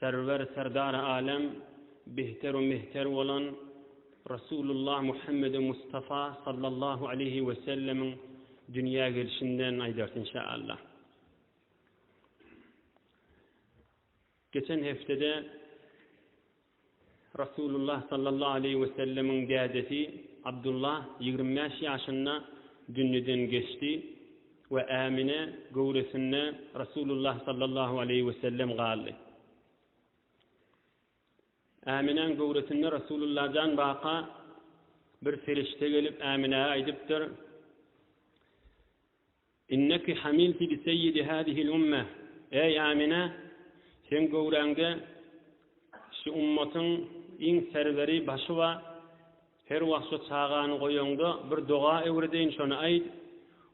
Serwer Serdary Alem Bihter-u Mehter bolan Resulullah Muhammedi Mustafa sallallahu aleýhi we sellemiň dünýä gelşinden aýdars inşaallah. Geçen hepdede Resulullah sallallahu aleýhi wesellemiň dädesi Abdullah ýigrimi bäş ýaşynda dünýeden geçdi we Ämine göwresinde Resulullah sallallahu aleýhi wesellem galdy. Äminäň göwresinde Resulullah jan baka bir perişde gelip Äminä aýdypdyr, Inneki hamilti bi seýidi hâzihil ummeh, Eý, Ämine, seň göwräňde şu ummatyň iň serweri, başy bar. Her wagt şu çagany goýaňda, bir doga öwredeýin, şony aýt,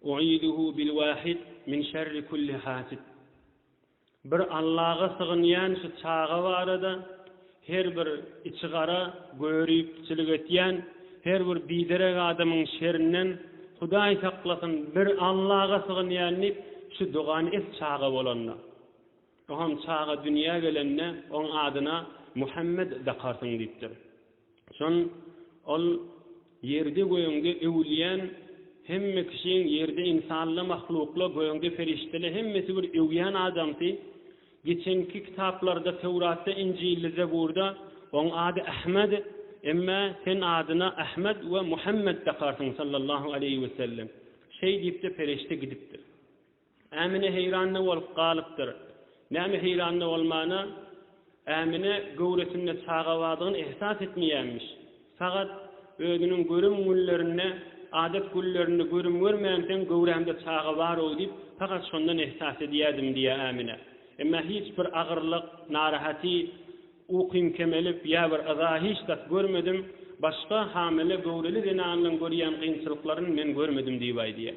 U'iduhu bil wahid min şerri kulli hasid. Bir Allaga sygynýan şu çaga barada her bir içi gara göripçilik etýän her bir biderek adamyň şerinden Hudaý saklasyn bir Allaga sygynýan diýip şu dogany et çaga bolanda. Oňam çaga dünýä gelende oň adyna Muhammet dakarsyň diýipdir. Soň Ol, Ýerde-gögde öwülýän hemme kişiň, ýerde ynsanla, mahlukla, gögde perişdele hemmesi bir öwýän adamsy. Geçenki kitaplarda, Töwratda, Injilde, Zeburda Oň ady Ahmed, emma sen adyna Ahmed we Muhammed dakarsyň sallallahu aleýhi wesellem. Şeý diýip-de perişde gidipdir. Ämine heýran-da bolup galypdyr. Näme heýran-da bolmana, Ämine göwresinde çaga bardygyny ähsas etmeýänmiş. Sagat özüniň görüm günlerinde, adat günlerinde görüm görmänsoň göwrämde çaga bar-ow diýip, pakat şondan ähsas edýärdim diýýär Ämine. Emma hiç bir agyrlyk, narahaty, ukym kemelip ýa bir yza hiç zat görmedim, başga hamile göwreli zenanlaryň görýän kynçylyklaryn men görmedim diýip aýdýar.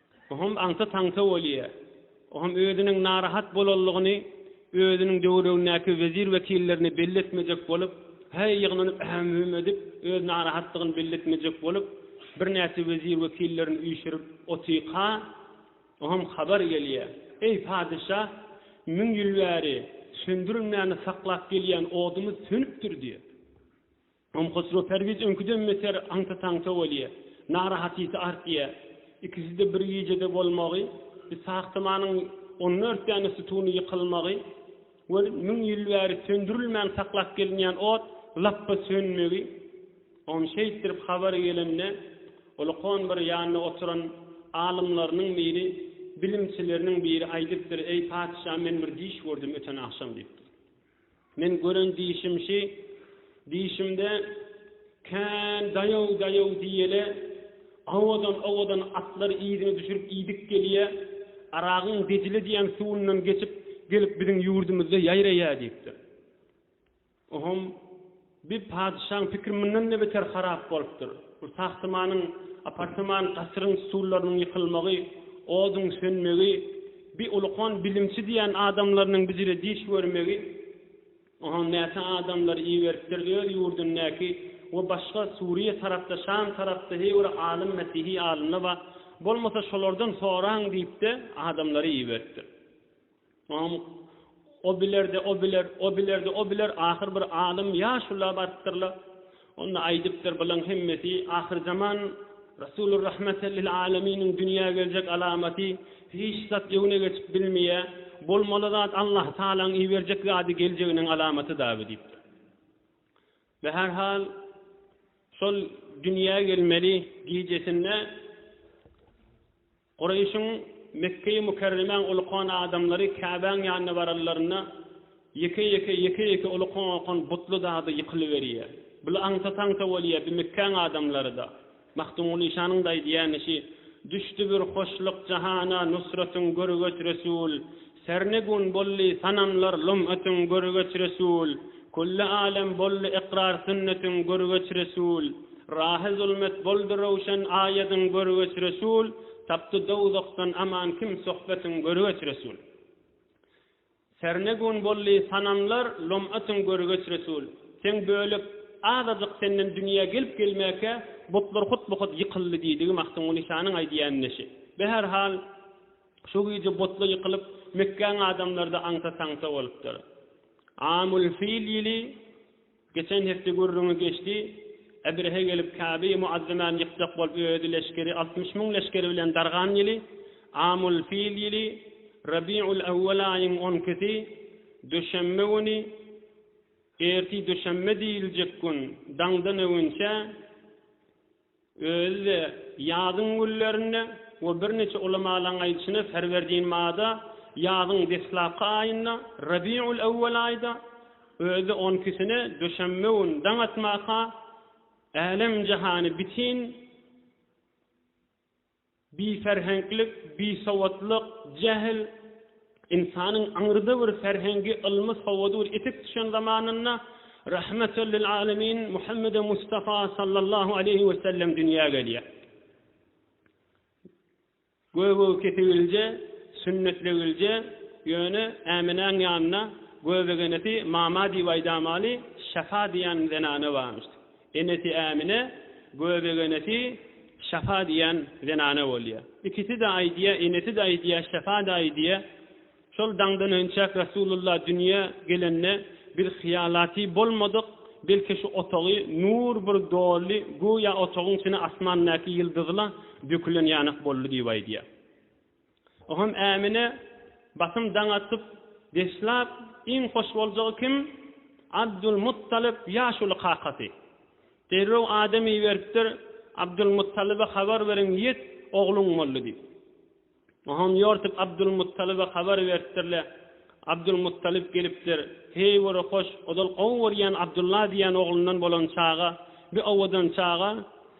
Bu hem aňta-taňta bolýar. O hem özüniň narahat bolanlygyny özüniň döwregindäki wezir-wekillerine belli etmejek bolup, häý ýygnanyp äm-hüm edip, öz narahatlygyny belli etmejek bolup, birnäçe wezir-wekillerini üýşürip otyka, o hem habar gelýär, Eý, patyşa, müň ýyl bäri söndürilmäni saklap gelýän odumyz sönüpdir diýip. Om Hosro Perwiz öňküden beter aňta-taňta bolýa. Narahatysy artýa. Ikisi-de bir gijede bolmagy, Ishak tamanyň on dört däne sütuny ýykylmagy we müň ýyl bäri söndürilmän saklap gelinýän ot lapba sönmegi, Om şeýtdirip habary gelende, ol konbir ýanynda oturan alymlarynyň biri, bilimçileriniň biri aýdypdyr, Eý, patyşa, men bir düýş gördüm öten agşam diýipdir. Men gören dişim şi, dişimde kän daýaw-daýaw diýeli, owadan-owadan atlar yzyny düşürip iýdip gelýä, Aragyň Dejle diýen suwundan geçip gelip biziň ýurdumyzda ýaýraýa diýipdir. Ohom Bir patyşaň pikiri mundan-da beter harap bolupdyr. Bu sahtamanyň apartaman gasyryň stullarnyň ýykylmagy, oduň sönmegi, bi ulukan bilimçi diýen adamlarynyň bijire diş görmegi, ohaň näçe adamlary iberipdir öz ýurdundäki we başga Suriýa tarapda, Şam tarapda heý bir alym, mesihi alymla bar, bolmasa şolardan soraň diýip-de adamlary iberipdir. Oňam O biler-de, o biler, o biler-de, o biler, ahyr bir alym ýaşula barypdyr-la, onda aýdypdyr, Bulaň hemmesi ahyrzaman Resulur Rahmete lil Aleminiň dünýä geljek alamaty, hiç zat öňüne geçip bilmeýä, bolmaly zat Allah Tagalaň iberjek zady geljeginiň alamaty dabi diýipdir. We her hal şol dünýä gelmeli gijesinde, Gureýşiň, Mekgeýi Mükerremäň uly kon adamlary Käbäň ýanyna baranlarynda, ýeke-ýeke, ýeke-ýeke uly kon okan butly zady ýykylyberýär. Bul aňsa-taňsa bolýar, bi Mekgäň adamlary-da. Magtymguly işanyň da aýdýany şi, Düşdi bir hoşluk jahana, Nusratyň görügeç Resul. Sernegun bolly sanamlar lum ötüň görgeç resul Kulli alem bolly ykrar sünnetiň görgeç resul Rahy zulmet boldy röwşen aýadyň görgeç resul Tapdy dowzahdan aman kim sohbetiň görgeç resul Sernegun bolly sanamlar lum ötüň görgeç resul Seň bölek azajyk senden dünýä gelip gelmäkä butlar hut bu hut ýykyldy diýdigi Magtymguly şanyň aýdýan neşi Be her hal Şu gije butly ýykylyp, Mekgäň adamlary-da aňta-taňta bolupdyr. Amul fil ýyly, geçen hepde gürrüňi geçdi, Ebrehe gelip Käbe-i Muazzamany ýykjak bolup özi leşgeri altmyş müň leşgeri bilen dargan ýyly, Amul fil ýyly, Rabiul ewwel aýyň on ikisi, döşenbe güni, erti döşenbe diýiljek gün, daňdan öwünçä, Özi-de ýazyň günlerinde we birniçe ulamalaryň aýdyşyna Ferwerdin Mada ýazyň deslapky aýynda, Rabiul Awwal aýda, özi-de on ikisine duşenbe gün daň atmaka älem-jahany bitin Biferheňklik, bisowatlyk, jähil, ynsanyň aňyrda bir ferhengi, ylmy, sowady bir etek düşen zamanynda Rahmetüllilalemin Muhammede Mustafa sallallahu aleýhi we sellem dünýä gelýär. Göbegi kesigilje, sünnetlegilje, ýöne Äminäň ýanynda göbegenesi mama diýip aýdamaly, Şafa diýen zenana barmyşdy. Enesi Ämine, Göbegenesi Şafa diýen zenana bolýar. Ikisi-de aýdýar, enesi-de aýdýar, Şafa-da aýdýar, Şol daňdan önçäk Resulullah dünýä gelende, biz hyýalaty bolmadyk, belki şu otagy nur bir doldy, göýä otagyň içine asmandaky ýyldyzlar dökülen ýanak boldy diýip aýdýar. Oňam Ämine basym daň atyp, Beslap iň hoş boljagy kim? Abdulmuttalyp ýaşuly kakasy. Derrew adam iberipdir, Abdulmuttalyba habar beriň, ýet, ogluň boldy diýip. Oňam ýortup Abdulmuttalyba habar beripdirle, Abdulmuttalyp gelipdir, Heý bir hoş, ozal gowy görýän Abdulla diýýän oglundan bolan çaga, bi owadan çaga,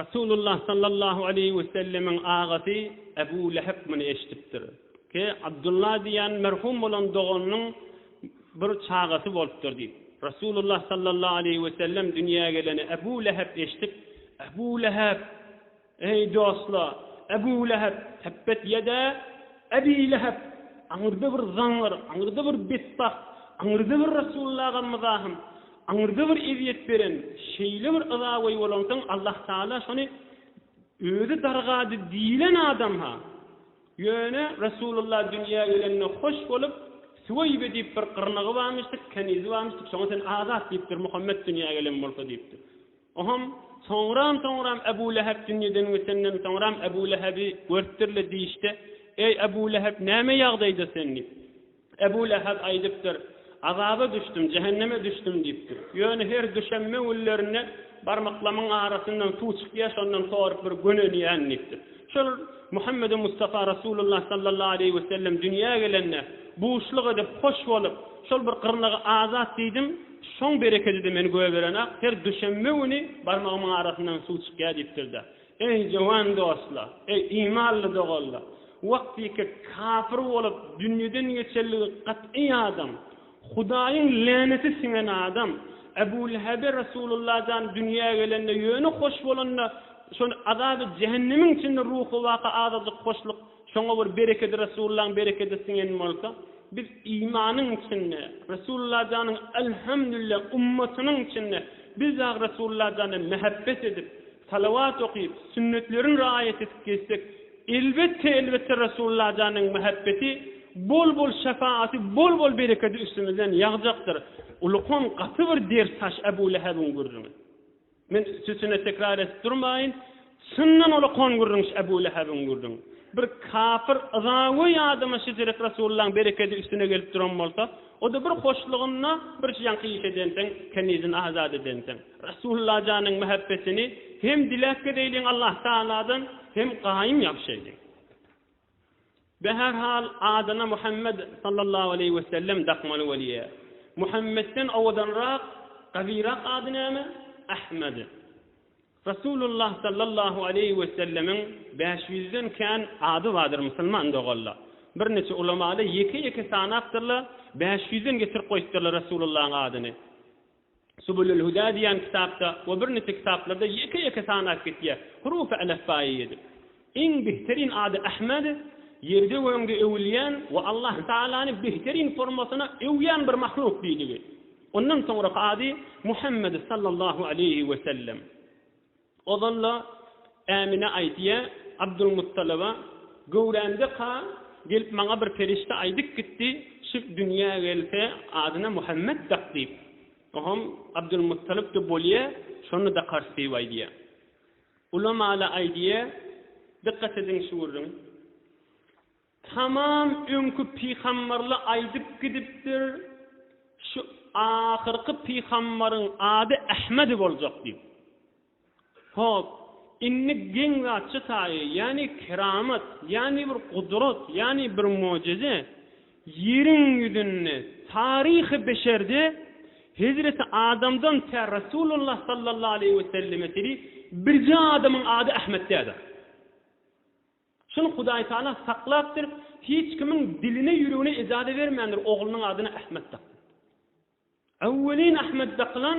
Resulullah sallallahu aleýhi wesellemiň agasy Ebu Lehep muny eşidipdir. Ki, Abdullah diýýän merhum bolan doganynyň bir çagasy bolupdyr diýip. Resulullah sallallahu aleýhi wesellem dünýä geleni Ebu Lehep eşidip, Ebu Lehep! Eý, dostla, Ebu Lehep! Tebbet ýedä, Ebi Lehep! Aňyrda bir zaňňar, aňyrda bir betbagt, aňyrda bir Resulullah agam-myzahym! Aňyrda bir ezýet beren, şeýle bir yza goýy bolansoň, Allahtagala şony Özi dargady diýlen adam-ha. Ýöne Resulullah dünýä gelende hoş bolup, Süweýbe diýip bir gyrnagy barmyşdyk, kenizi barmyşdyk, şoňa sen azat diýipdir, Muhammet dünýä gelen bolsa diýipdir. Oňam soňram-soňram Ebu Lehep dünýeden geçenden soňram Ebu Lehebi görüpdirle diýişde, Eý, Ebu Lehep, näme ýagdaýda sen? diýip. Ebu Leheb aýdypdyr, Azaba düşdüm, jähenneme düşdüm diýipdir. Ýöne her düşenbe günlerinde barmaklamyň arasyndan suw çykýar, şondan sorup bir gönenýän diýipdir. Şol Muhammedi Mustafa Resulullah sallallahu aleýhi wesellem dünýä gelende, buşluk edip, hoş bolup, şol bir gyrnagy azat diýdim, şoň berekedi-de meni göberen-ak, her düşenbe güni barmagymyň arasyndan suw çykýar diýipdir-de. Eý, jowan dostlar! Eý, imanly doganlar! Wagtyky kafir bolup, dünýeden geçenligi gat'y adam, Hudaýyň läneti siňen adam Ebu Lehebe Resulullah jan dünýä gelende ýöne hoş bolanda şol azaby jähennemiň içinde ruhy waka azajyk hoşluk şoňa bir berekedi Resulullahyň berekedi siňen bolsa, biz imanyň içinde, Resulullah janyň Elhemdülillah ummatynyň içinde biz dagy Resulullah jana mähebbet edip, Salawat okyp, sünnetlerin raýat edip gezsek, elbetde elbetde Resulalla janyň mähebbeti, bol bol şefagaty, bol bol berekedi üstümizden ýagjakdyr. Ulukam gaty bir ders haş Ebu Lehebiň gürrüňi. Men üstesine tekrar edip durmaýyn, çyndan ulukam gürrüňş Ebu Lehebiň gürrüňi. Bir kapyr yzagoý adama şejerik Resullaň berekedi üstüne gelip duran bolsa, O-da bir hoşlygynda birçi ýaňky iş edensiň, kenizini azat edensiň. Resulullah janyň mähebbetini hem diläp gezeýliň Allahtagaladan, hem gaýym ýapyşaýlyň. Be her hal adyna Muhammet sallallahu aleýhi wesellem dakmaly bolýa. Muhammetden owadanrak, gawyrak ady näme? Ahmad. Resulullah sallallahu aleýhi wesellemiň bäş ýüzden kän ady bardyr musulman dogalla. Birniçe ulamalar ýeke-ýeke sanapdyrlar, bäş ýüzden getirip goýupdyrlar Resulullahyň adyny. Subulul-Huda diýen kitapda we birniçe kitaplarda ýeke-ýeke sanap gitýär, hurufy älefbaýy edip. Iň behterin ady Ahmed, ýerde göňde öwülýän we Allah Tagalany behterin formasyna öwýän bir mahluk diýdigi. Ondan soňraky ady Muhammed sallallahu aleýhi we sellem. Ozal-la Ämine aýtýa, Abdulmuttalyba, Göwrämde-ka gelip maňa bir perişde aýdyp gitdi, şu dünýä gelse adyna Muhammed dak diýip. Ohom Abdulmuttalyp-da bolýa, şony dakarys diýip aýdýa. Ulamaly aýdýa, dykgat ediň şu gürrüň. Tamam öňki pygamberle aýdyp gidipdir, şu ahyrky pygamberiň ady Ahmedi boljak diýip. Hop, indi geň zatça taýy, ýani keramat, ýani bir gudrat, ýani bir mojize. Ýeriň ýüzünde taryhy beşerde hezreti Adamdan tä Resulullah sallallahu aleýhi we selleme çenli birje adamyň ady Ahmet däldir. Şuny Hudaý Taala saklapdyr, hiç kimiň diline ýüregine ejaze bermändir oglunyň adyna Ahmet dakmaga. Öwwelin Ahmet dakylan,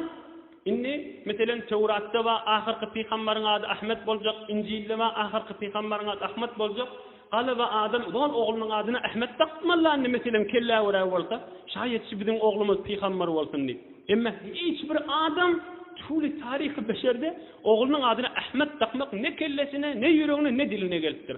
indi, meselem, Töwratda bar, ahyrky pygambaryň ady Ahmet boljak, Injilde bar, ahyrky pygambaryň ady Ahmet boljak, galaba adam zol oglunyň adyna Ahmet dakmazlar indi, meselem, kellä göräý bolsa, şaýat şu biziň oglumyz pygambar bolsun diýip. Emma hiç bir adam tuly taryhy beşerde oglunyň adyna Ahmet dakmak ne kellesine, ne ýüregine, ne diline gelipdir.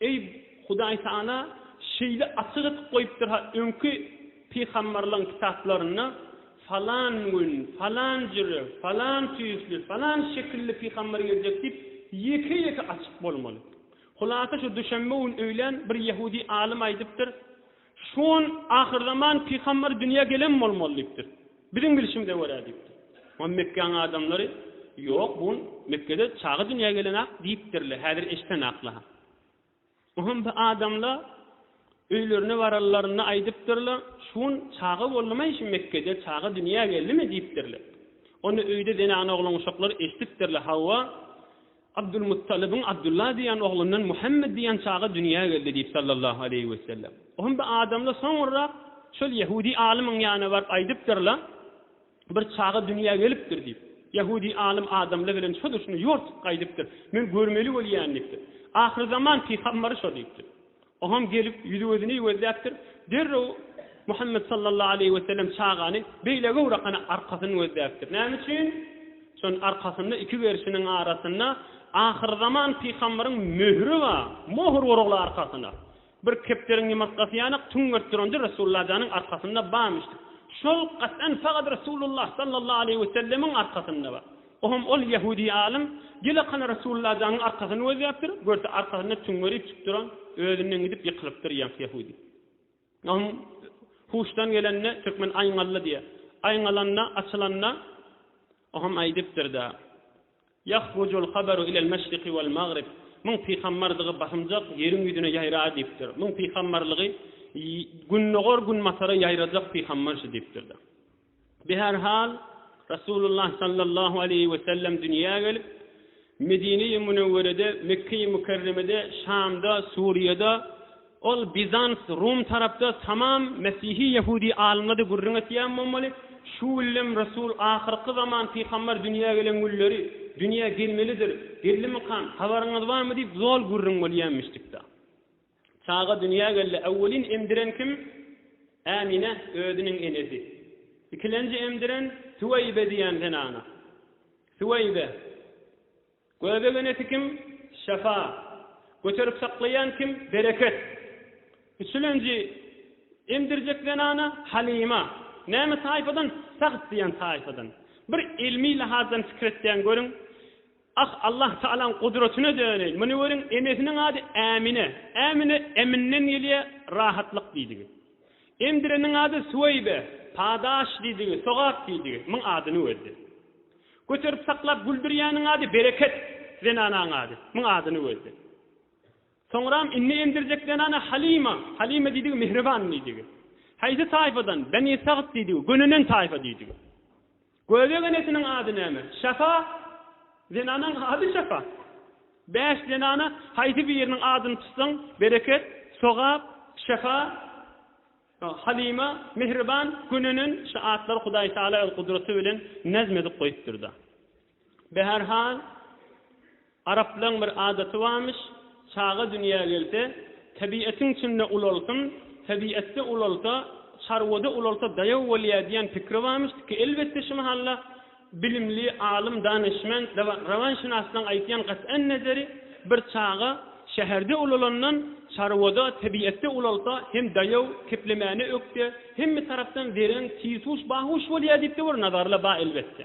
Eý, Hudaý sana şeýle açyk edip goýupdyr-ha öňki pygamberleriň kitaplarynda falan gün, falan jüri, falan tüýsli, falan şekilli pygamber geljek diýip ýeke-ýeke açyp bolmaly. Hulasa şu duşenbe gün öýlän bir ýehudi alym aýdypdyr, Şu gün ahyrzaman pygamber dünýä gelen bolmaly diýipdir. Biziň bilşimize görä diýipdir. Onda Mekgäň adamlary, Ýok, bu gün Mekgede çaga dünýä gelen-ak diýipdirler, häzir eşidenaklar. Onda adamlar öýlerine baranlarynda aýdypdyrlar, Şu gün çaga boldumy şu Mekgede, çaga dünýä geldimi diýipdirler. Onda öýde zenan-oglan-uşaklar eşidipdirler, Hawa, Abdulmuttalybyň Abdulla diýen oglundan Muhammet diýen çaga dünýä geldi diýip sallallahu aleýhi wesellem. Ohm bir adamla soňurrak şol ýehudi alymyň ýanyna baryp aýdypdyrla bir çaga dünýä gelipdir diýip. Ýehudi alym adamla bilen şo durşuna ýortup gaýdypdyr. Men görmeli bolýan diýipdir. Ahyrzaman pygambary şo diýipdir. Ogam gelip, ýüzi-gözüni ýüwezläpdir. Derrew Muhammet sallallahu aleýhi wesellem çagany beýle göwre kana arkasyny gözläpdir. Näme üçin? Şonuň arkasynda iki gerşiniň arasynda ahyrzaman pygambaryň möhüri bar. Mohr urugly arkasyna. Bir kepderiň ýumurtgasy ýanak tüňňert durandy Resulullah janyň arkasynda barmyş. Şol gaçan fagat Resulullah sallallahu aleýhi wesellemiň arkasynda bar. Oňa ol ýehudi alym, Gelekan Resulullah jaňyň arkasyny gözläpdir, görse arkasynda tüňňerip çyk duran, özünden gidip ýykylypdyr ýaňky ýehudi. Oňa huşdan gelende, türkmen aýňaldy diýýär. Aýňalanda, açylanda, oňa aýdypdyr-da, Ýahrucul habaru ilel meşriki wal magrib, Muň pygambardygy basymjak, ýeriň ýüzüne ýaýrar diýipdir. Muň pygambarlygy gündogar-günbatara ýaýrajak pygambar şu diýipdir-de. Bi her hal, Resulullah sallallahu aleýhi we sellem dünýä gelip, Medine-i Münewwerede, Mekge-i Mükerremede, Şamda, Suriýada, ol Bizans, Rum tarapda tamam mesihi ýehudi alymlady gürrüň etýän bolmaly, şu güllem Resul ahyrky zaman pyhambar dünýä gelen günleri, dünýä gelmelidir, geldimikam, habaryňyz barmy diýip zol gürrüň bolýamişdikda. Çaga dünýä geldi. Öwwelin emdiren kim? Ämine, özüniň enesi. Ikilenji emdiren Süweýbe diýen zenana. Süweýbe. Göbek enesi kim? Şefa. Göterip saklaýan kim? Bereket. Üçülenji emdirjek zenana Halyma. Näme taýpadan? Sahd diýen taýpadan. Bir ylmy lahazdan pikir etseň görüň. Ah, Allah Tagalaň gudratyna döneýin. Muny görüň, enesiniň ady Ämine. Ämine Emin-den gelýär, rahatlyk diýdigi. Emdireniň ady Süweýbe, padaş diýdigi, sogap diýdigi. Muň adyny gözle. Göterip-saklap güldürýäniň ady Bereket, zenanaň ady. Muň adyny gözle. Soňram indi emdirjek zenana Halyma, Halyma diýdigi mähriban diýdigi. Haýsy taýfadan? Beni Sagt diýdigi, gönenen taýfa diýdigi. Göbek enesiniň ady näme? Şafa, zenanyň ady Şafa. Bäş zenana haýsy biriniň adyny tutsaň, bereket, sogap, şafa, Halyma, mähriban, gönenen şu atlary Hudaý Taala öz gudraty bilen nazm edip goýupdyr-da. Be her hal, araplaň bir adaty barmyş, çaga dünýä gelse, tebietiň içinde ulalsyn, tebietde ulalsa, çarwada ulalsa daýaw bolýa diýen pikri barmyş, tiki elbetde şu mahalla bilimli, alym, danyşment, rawanşynaslaň aýtýan gat'en nezeri, bir çaga şäherde ulalandan, çarwada, tebietde ulalsa, hem daýaw, keplemäne ökde, hemme tarapdan zereň, tiýsuş, bahuş bolýa diýipde bir nazarla ba elbetde.